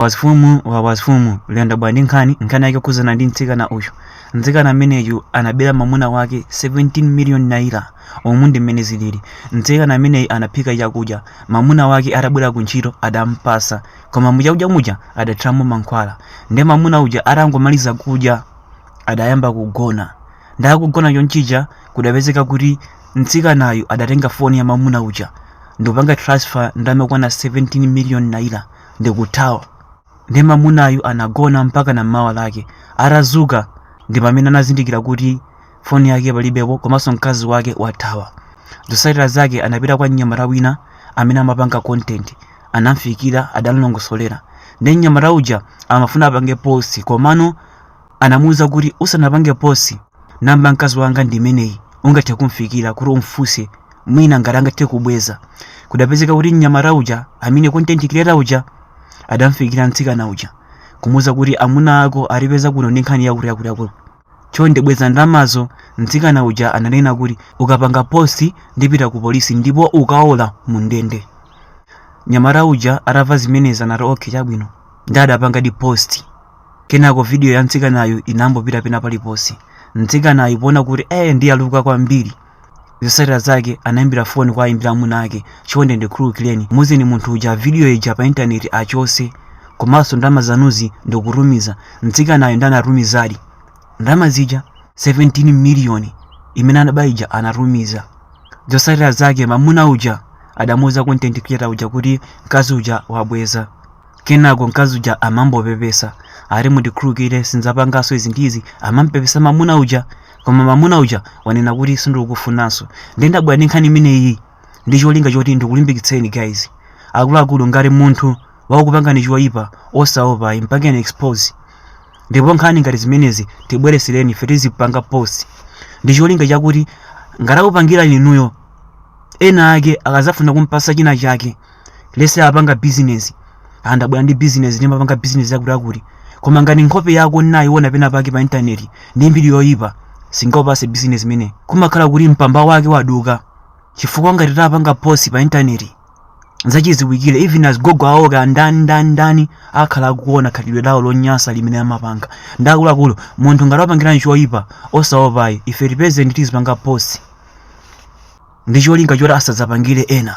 wazifumu wa wazifumu lero ndabwera ndi nkhani nkhani yake yokhudzana ndi mtsikana uyu mtsikana ameneyu anabera mamuna wake 17 million naira umu ndi mmene zilili mtsikana ameneyu anaphika chakudya mamuna wake atabwera ku ntchito adampasa koma muchakudya muja adathiramo mankhwala nde mamuna uja atangomaliza kudya adayamba kugona nde atagona chonchija kudapezeka kuti mtsikanayu adatenga foni ya mamuna uja ndikupanga transfer ndalama zokwana 17 million naira ndikuthawa nde mamunayu anagona mpakana mmawa lake atadzuka ndi pamene anazindikira kuti foni yake palibepo komanso mkazi wake wathawa zotsatira zake anapita kwa mnyamata wina amene amapanga content anamfikira adamlongosolera nde mnyamata uja amafuna apange post komano anamuuza kuti usanapange post namba ya mkazi wanga ndi imeneyi ungathe kumfikira kuti umfunse mwina ngati angathe kubweza kudapezeka kuti mnyamata uja amene content creator uja adamfikira mtsikana uja kumuuza kuti amuna ako atipeza kuno ndi nkhani yakuti yakuti yakuti chonde bweza ndalamazo mtsikana uja ananena kuti ukapanga post ndipita ku polisi ndipo ukaola mu ndende mnyamata uja atamva zimenezi anati okay chabwino nde adapangadi post Kenako vidiyo ya mtsikanayu inangopita pena paliponse. Mtsikanayu poona kuti ee ndiyaluka kwambiri, zotsatira zake anaimbira foni kwa ayimbira amuna ake, chonde ndikhululukireni, muuzeni munthu uja vidiyo ija pa intaneti achotse, komanso ndalama zanuzi ndikutumiza. Mtsikanayu nde anatumizadi ndalama zija 17 miliyoni imene anaba ija anatumiza. Zotsatira zake mamuna uja adamuuza content creator uja kuti mkazi uja wabweza. Kenako mkazi uja amangopepesa ati mundikhululukire sindidzapanganso izi ndi izi amampepesa mamuna uja koma mamuna uja wanena kuti sindikukufunanso ndiye ndabwera ndi nkhani imeneyi ndi cholinga choti ndikulimbikitseni guys akuluakulu ngati munthu wakupangani choyipa osaopa ayi mpangeni expose ndipo nkhani ngati zimenezi tibweretsereni ife tizipanga post ndi cholinga chakuti ngati akupangirani inuyo ena ake akadzafuna kumpasa china chake let's say apanga business andabwera ndi business ndimapanga business yakuti yakuti koma ngati nkhope yako ndinayiona pena pake pa intaneti ndi mbiri yoyipa sindingakupatse business imeneyo kumakhala kuti mpamba wake waduka chifukwa ngati tapanga post pa intaneti zachidziwikire even azigogo awo kaya ndani ndani ndani akhala akuona khalidwe lawo lonyasa limene amapanga nde akuluakulu munthu ngati wakupangirani choyipa osaopa ayi ife tipezeni tizipanga post ndi cholinga choti asadzapangire ena